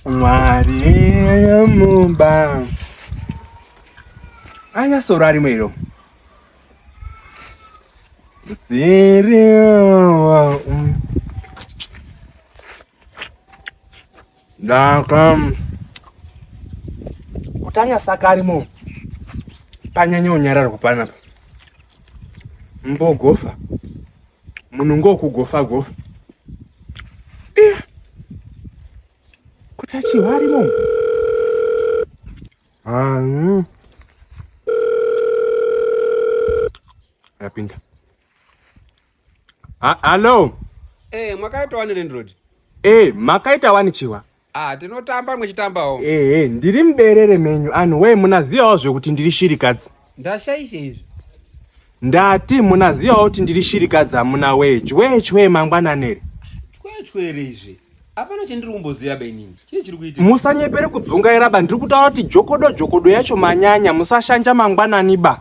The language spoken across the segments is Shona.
mwari mumba anya soro arimo iro ziriwa ndaka kuti anya saka arimo panyanya unyararwa panapa mbogofa munhu ngokugofa gofa eh. kuti achihwa arimo hanyu yapinda hallo e eh, mwakaita wani rendrod e eh, makaita wani chihwa Ah, tinotamba mwechitambawo. Ehe, ndiri muberere menyu. Anhu wee munaziyawo zvekuti ndiri shirikadzi. Ndashaisha izvi. Ndati munaziyawo kuti ndiri shirikadzi amuna wee. Chwee chwee mangwananere. Chwee chwee izvi. Hapana chandiri kumboziva benini. Chii chiri kuitika? Musanyepere kudzungaira ba ndiri kutaura kuti jokodo jokodo yacho manyanya musashanja mangwanani ba.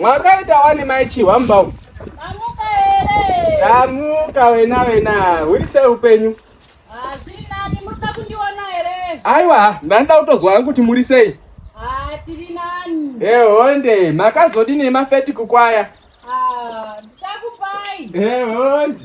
mwakaita wani mai chihwa mubau tamuka wena wena huri sei upenyu aiwa ndanoda kutozwa hangu kuti muri sei ehonde makazodini nemafeti kukwaya ehonde